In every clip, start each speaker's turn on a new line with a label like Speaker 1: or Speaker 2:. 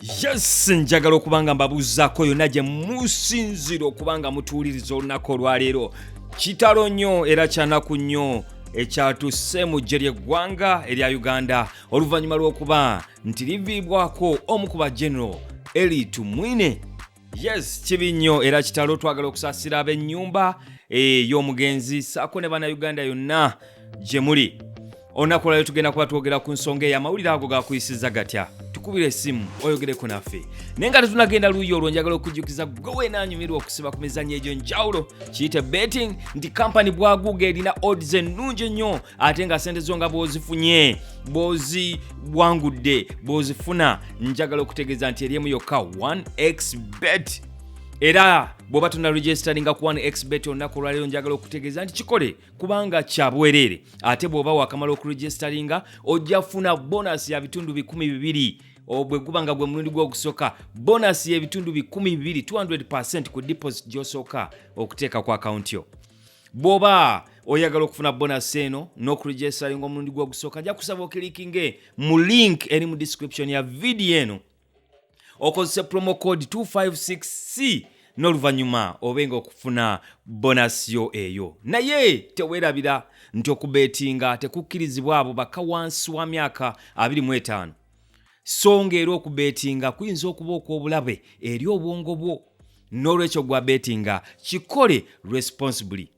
Speaker 1: yes njagala okuba nga mbabuuzaako yonna gye musinzira okuba nga mutuwuliriza olunaku olwaleero kitalo nnyo era kyanaku nnyo ekyatusse mu ggye ly'eggwanga erya uganda oluvannyuma lw'okuba nti liviibwako omu ku bagenero eli tumwine yes kibi nnyo era kitalo twagala okusasira ab'ennyumba ey'omugenzi eh, saako ne bannayuganda yonna gye muli olunaku olwalyo tugenda kuba twogera ku nsonga eyo amawulire ago gakuyisiza gatya tukubira esimu oyogereko naffe naye nga tetunagenda luuyi olwo njagala okujjukiza gwe weenanyumirwa okusiba ku mizanyo egyo njawulo kiyite betting nti kampani bwaguuga erina odds ennungi ennyo ate nga sente zo nga bwozifunye bwoziwangudde bwozifuna njagala okutegeeza nti eryemu yokka 1x bet era bwoba tuna registeringa ku 1x bet olunaku olwaleero njagala okutegeeza nti kikole kubanga kya bwereere ate bw'oba wakamala okuregisteringa ojja funa bonasi ya bitundu bikumi bibiri bwe guba nga gwe mulundi gw'ogusooka bonasi y'ebitundu bikumi bibiri 200 ku deposit gy'osooka okuteeka ku akawunti yo bwoba oyagala okufuna bonasi eno n'okuregistaringa omulundi gwe ogusooka nja kusaba okilikinge mu link eri mu description ya vidiyo eno okozese promo code 256c n'oluvannyuma obe nga okufuna bonasi yo eyo naye teweerabira nti okubeetinga tekukkirizibwa abo baka wansi wa myaka 25 so nga era okubeetinga kuyinza okuba okw'obulabe eri obwongo bwo n'olwekyo gwa beetinga kikole responsibly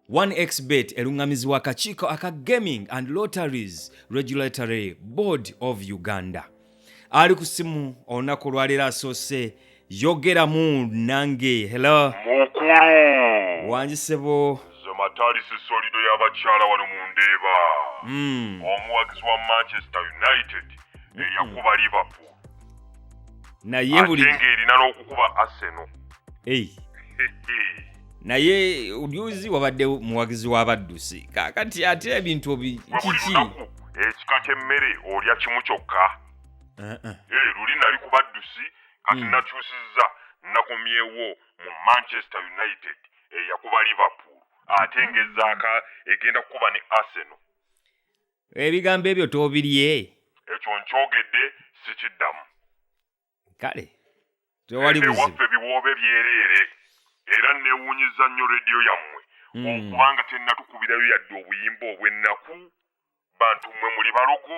Speaker 1: 1xbet eluŋŋamizibwa akakiiko aka gaming and lotteries regulatory board of uganda ali ku simu olunaku olwaleero asoose yogera mu nange hello mukulu
Speaker 2: wangi sebo
Speaker 1: nze mataalisi
Speaker 2: solido y'abakyala wano mu ndeeba mm. omuwagizi wa manchester united eyakuba liverpool
Speaker 1: naye ate buli ng'erina n'okukuba
Speaker 2: arsenal hey.
Speaker 1: naye oluzi wabadde muwagizi w'abaddusi kakati ate ebintu obi gwe buli kiki lunaku
Speaker 2: ekika ky'emmere olya kimu kyokka Uh-uh. Eh, luli nali ku baddusi kati mm. nakyusizza nakomyewo mu manchester united eyakuba liverpool ate ngaezaaka egenda kukuba ne arsenal
Speaker 1: ebigambo ebyo tobirye ekyo
Speaker 2: nkyogedde sikiddamu
Speaker 1: kale tewaliwaffe biwoobe
Speaker 2: byereere era newunyiza nnyo rediyo yammwe mm. okubanga tenatukubirayo yadde obuyimba obwennaku bantu mmwe muli balogo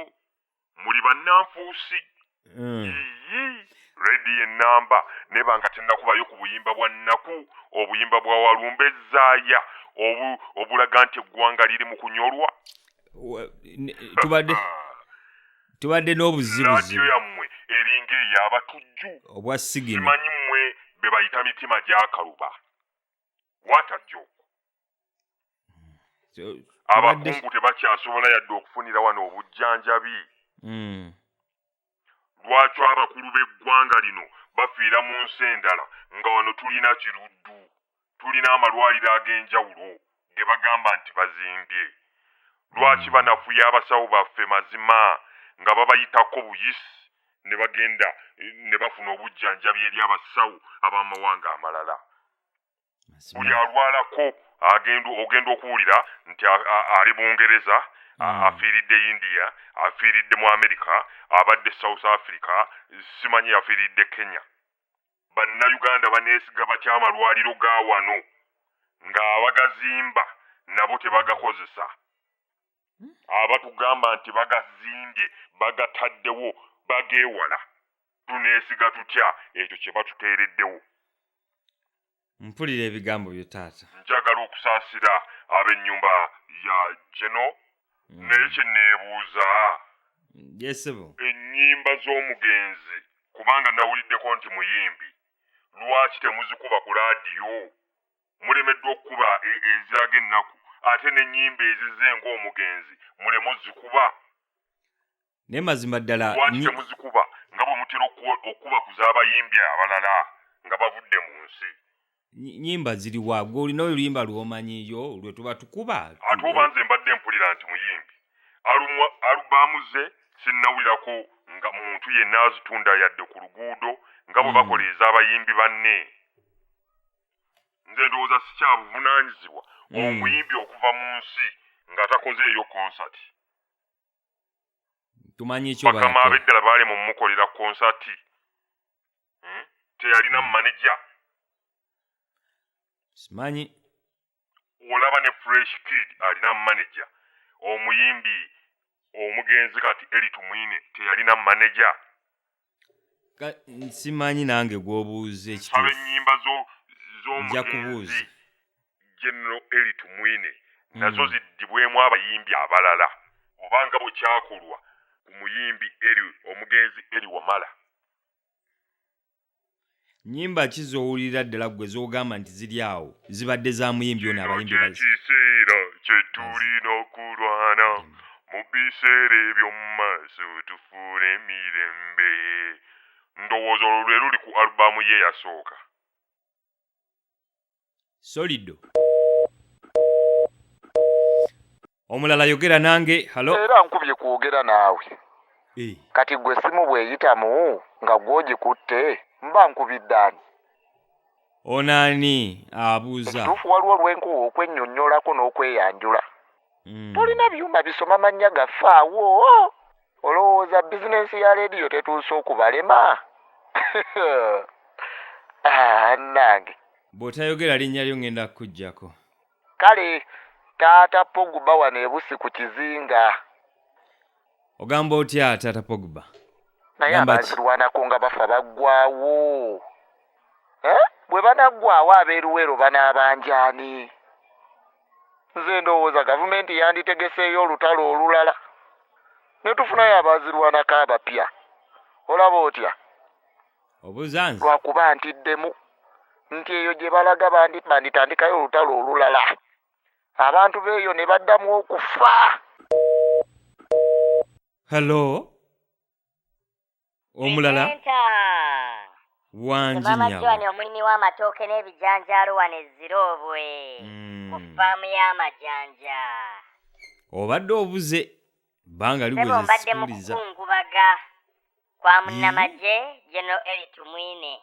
Speaker 2: muli bannanfuusi mm. yiyi rediyo ennamba neba nga tennakubayo ku buyimba bwa nnaku obuyimba bwa walumba ezaaya obulaga nti eggwanga liri mu kunyolwa
Speaker 1: tubadde tubadde n'obuzibuzibu yammwe
Speaker 2: eringa eyabatujju obwa sigino
Speaker 1: simanyi mmwe
Speaker 2: be bayita mitima gyakaluba what a joke abakungu tebakyasobola yadde okufunira wano obujjanjabi hmm. lwaki abakulu b'eggwanga lino bafiira mu nsi endala nga wano tulina kiruddu tulina amalwaliro ag'enjawulo ge bagamba nti bazimbye lwaki hmm. banafuya abasawo baffe mazima nga babayitako buyisi ne bagenda ne bafuna obujjanjabi eri abasawo ab'amawanga amalala buli alwalako agenda ogenda okuwulira nti ali bungereza mm. afiiridde india afiiridde mu amerika abadde south africa simanyi yafiiridde kenya bannayuganda baneesiga batya amalwaliro ga wano ng'abagazimba nabo tebagakozesa abatugamba nti bagazimbye bagataddewo bageewala tuneesiga tutya ekyo kye batuteereddewo
Speaker 1: mpulira ebigambo byo taata njagala okusaasira
Speaker 2: ab'ennyumba ya geno mm. naye kye neebuuza
Speaker 1: yesebo ennyimba
Speaker 2: z'omugenzi kubanga nawuliddeko nti muyimbi lwaki temuzikuba ku laadiyo mulemeddwa okukuba e- eziraga ennaku ate n'ennyimba ezize ng'omugenzi muleme ozikuba
Speaker 1: naye mazima ddala lwaki temuzikuba
Speaker 2: nga bwe mutera okukuba ku z'abayimbi abalala nga bavudde mu nsi nyimba
Speaker 1: ziri wa gwe olina oluyimba lwomanyiyo lwe tuba tukuba ate oba nze mbadde
Speaker 2: mpulira nti muyimbi alubaamu ze sinnawulirako nga muntu yenna azitunda yadde ku luguudo nga bwe hmm. bakola ez'abayimbi banne nze ndowooza sikyabuvunanyizibwa hmm. omuyimbi okuva mu nsi nga takoze eyo konsati tumanyi ekyobakama abeddala baali mu
Speaker 1: mukolera
Speaker 2: konsati hmm? teyalina maneja
Speaker 1: simanyi
Speaker 2: olaba ne fresh kid alina manager omuyimbi omugenzi kati eli tumwine teyalina manager
Speaker 1: simanyi nange gwobuuza ekisaba enyimba
Speaker 2: zomugenzi general eli tumwine hmm. nazo ziddibwemu abayimbi abalala obanga bwekyakolwa ku muyimbi eli omugenzi eli wamala
Speaker 1: nyimba ki z'owulira ddala ggwe z'ogamba nti ziri awo zibadde za muyimbi ono abayimbi ekiseera
Speaker 2: kye tulina okulwana mu biseera eby'omu maaso tufuule emirembe ndowooza olwo lwe luli ku alubaamu ye yasooka
Speaker 1: solido omulala yogera nange halo era nkubye kwogera
Speaker 3: naawe Eh, kati gwe essimu bw'eyitamu nga gw'ogikutte mba nkubidde ani ono ani
Speaker 1: abuuza ekituufu waliwo lwenkowa
Speaker 3: okwennyonnyolako n'okweyanjula Mm. tolina byuma bisoma mannya gaffe awo olowooza bizinensi ya leediyo tetuuse okubalema ah, nange bw'otayogera
Speaker 1: linnya lyo ŋŋenda kukuggyako kale
Speaker 3: taata pogba wano ebusi ku kizinga
Speaker 1: ogamba otya taata pogba naye
Speaker 3: abazirwanako nga bafa baggwawo eh? bwe banaggwawo abeeruweero banaabanjaani nze ndowooza gavumenti yanditegeseeyo olutalo olulala ne tufunayo abaazirwanako abapya olaba otya
Speaker 1: obuzanzi lwakuba ntiddemu
Speaker 3: nti eyo gye balaga banditandikayo olutalo olulala abantu beeyo ne baddamu okufa
Speaker 1: hello omulala Presenter. Nze wangi Maama nyabo Joan
Speaker 4: omulimi
Speaker 1: w'amatooke
Speaker 4: n'ebijanjaalo wano e Ziroobwe ku Mm. ffaamu y'amajanja.
Speaker 1: obadde obuze banga Ssebo liweze mbadde mu
Speaker 4: sikuliza
Speaker 1: kukungubaga
Speaker 4: kwa Ii. munnamagye General Eli Tumwine.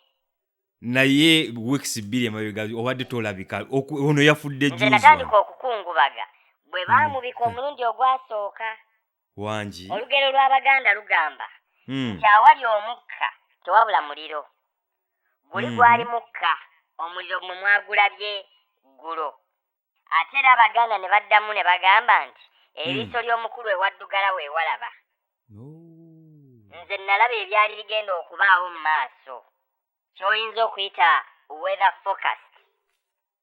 Speaker 4: naye
Speaker 1: weeks bbiri emabega obadde tolabika Oku- ono yafudde Nze juzi natandika
Speaker 4: okukungubaga bwe baamubika omulundi ogwasooka wangi
Speaker 1: olugero lw'abaganda
Speaker 4: lugamba hmm. nti awali omukka tewabula muliro guli hmm. gwali mukka omuliro gumwe mwagulabye ggulo ate era abaganda ne baddamu ne bagamba nti hmm. eriiso ly'omukulu ewaddugala weewalaba nze nalaba ebyali bigenda okubaawo mu maaso kyoyinza okuyita weather focus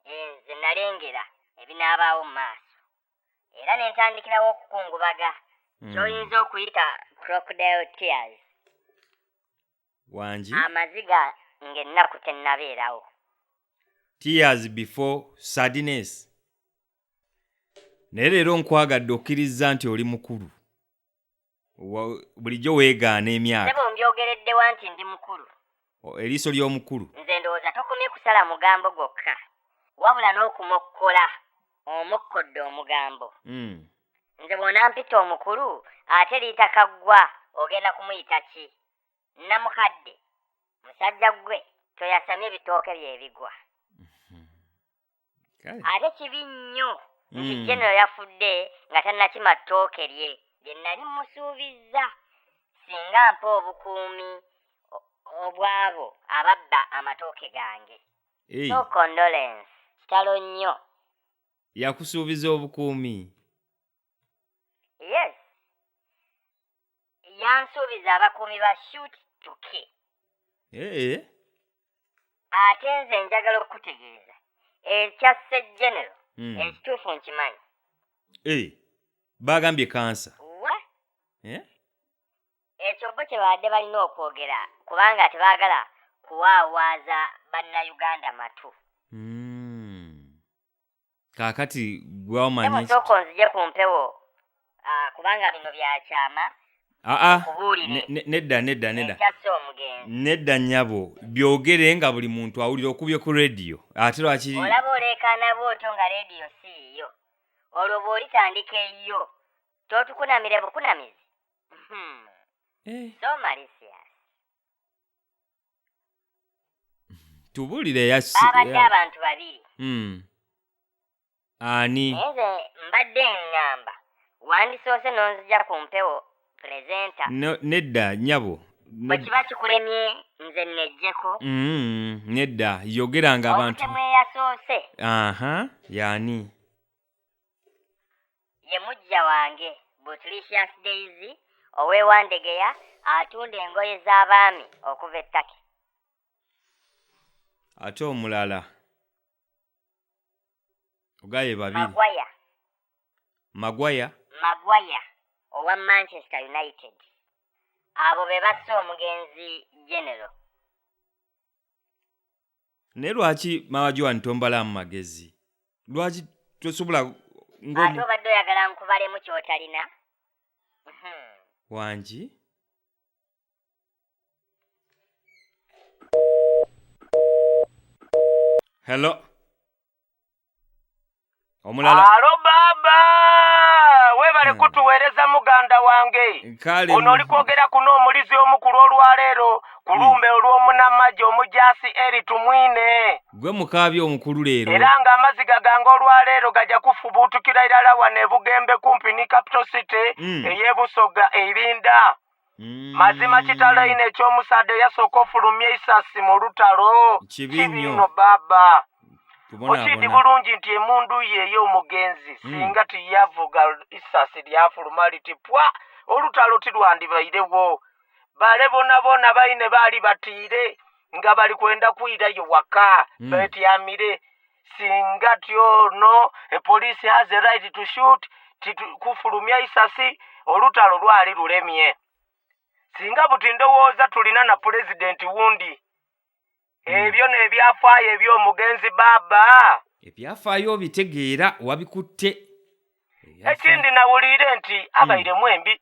Speaker 4: eh, nze nalengera ebinaabaawo mu maaso era ne ntandikirawo okukungubaga hmm. kyoyinza okuyita crocodile tears wangi
Speaker 1: amaziga
Speaker 4: ng'ennaku tennabeerawo
Speaker 1: tears before sadness naye leero nkwagadde okkirizza nti oli mukulu Wa- bulijjo weegaana emyaka sebo mbyogereddewa
Speaker 4: nti ndi mukulu O- eriiso
Speaker 1: ly'omukulu nze ndowooza tokomye
Speaker 4: kusala mugambo gwokka wabula n'okumokkola omokkodde omugambo Mm. nze bw'onampita omukulu ate liita kaggwa ogenda kumuyita ki nnamukadde musajja ggwe toyasamye bitooke bye bigwa kale ate kibi nnyo nti Mm. genero yafudde nga tannakima ttooke lye lye nali musuubizza singa mpa obukuumi o- obw'abo ababba amatooke gange Ei, so condolence kitalo nnyo yakusuubiza
Speaker 1: obukuumi
Speaker 4: yes yansuubiza abakuumi ba shut to key ee eh? ate nze njagala okukutegeeza ekya segenero hmm. ekituufu nkimanyi ee eh,
Speaker 1: baagambye kansa wa
Speaker 4: eh? ekyo bo kye baadde balina okwogera kubanga tebaagala kuwaawaaza bannayuganda matu mm.
Speaker 1: kaakati gwamanyi sooka onzije ku mpewo
Speaker 4: ah, kubanga bino byakyama aa ah, ah.
Speaker 1: nedda nedda nedda
Speaker 4: nedda nyabo
Speaker 1: byogere nga buli muntu awulira okubye ku rediyo ate lwaki olaba oleekaana
Speaker 4: bwotyo nga rediyo si yiyo olwo bw'olitandika eyiyo totukunamire bukunamizi hmm. eh. so malisia
Speaker 1: tubuulire yasi baabadde ya- abantu babiri
Speaker 4: Mm.
Speaker 1: ani naye nze mbadde
Speaker 4: ŋŋamba wandisoose
Speaker 1: n'onzija
Speaker 4: ku mpewo pulezenta
Speaker 1: No-
Speaker 4: nedda nyabo No- bwe kiba kikulemye nze nnejjeko Mm, nedda
Speaker 1: yogeranga abantu omutemu eyasoose
Speaker 4: aha
Speaker 1: yani
Speaker 4: ye mujja wange butlicious daisy owewandegeya atunda engoye z'abaami okuva ettaki
Speaker 1: ate omulala ogaye babiri magwaya magwaya magwaya owa manchester
Speaker 4: united abo be basse omugenzi genero
Speaker 1: naye lwaki maama joan tombalaamu magezi lwaki tosobola ate
Speaker 4: obadde oyagala nkubalemu kyotalina hmm.
Speaker 1: wangi hello omulala alo baba
Speaker 5: webale Hmm. kutuweereza muganda wange kale ono oli kwogera kuno omulizi omukulu olwaleero ku Hmm. lumbe olw'omunamagye omujaasi eri tumwine gwe mukaabi
Speaker 1: omukulu leero era ng'amaziga gange
Speaker 5: olwaleero gajja kufubuutukira irala wano e bugembe kumpi ne capital city Mm. ey'ebusoga erinda mazima kitalo ino ekyomusaadde yasooka ofulumya eisasi mu lutalo Kibi nnyo. kibino baba okiidi kubonaabona bulungi nti emundu ye ey'omugenzi Mm. singa tiyavuga isasi lyafuluma liti pwa olutalo tilwandibairewo bale bonabona baine baali batiire nga bali kwenda kwirayo waka Mm. betyamire singa tyono epoliisi has a right to shoot kufulumya isasi olutalo lwali lulemye singa buti ndowooza tulina na pulezidenti wundi hmm. ebyo nebyafaayo ebyomugenzi baaba ebyafaayo
Speaker 1: obitegeera wabikutte
Speaker 5: ekindi nawuliire nti abairemu hmm. embi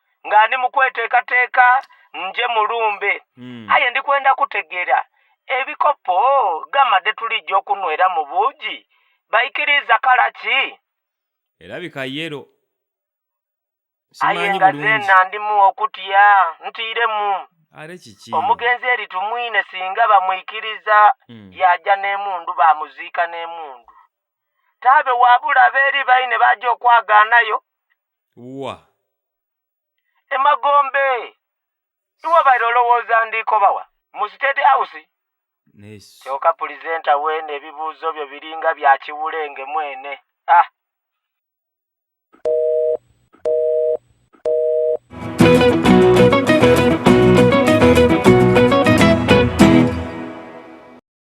Speaker 5: nga ndi mukwetekateeka nje mulumbe hmm. aye ndikwenda kutegera ebikopo gamade tulijja okunwera mu buugi baikiriza kala ki erabika
Speaker 1: yero
Speaker 5: aye nga zena ndimu okutya ntiiremu are kiki
Speaker 1: omugenzi eri tumwine
Speaker 5: singa bamwikiriza hmm. yaja n'emundu bamuziika n'emundu taabe wabula abeeri baine baja okwagaanayo wa
Speaker 1: emagombe
Speaker 5: iwabaire olowooza ndiikobawa mu state house
Speaker 1: kyoka pulizenta
Speaker 5: weene ebibuuzo byo biringa bya kiwulenge mwene ah.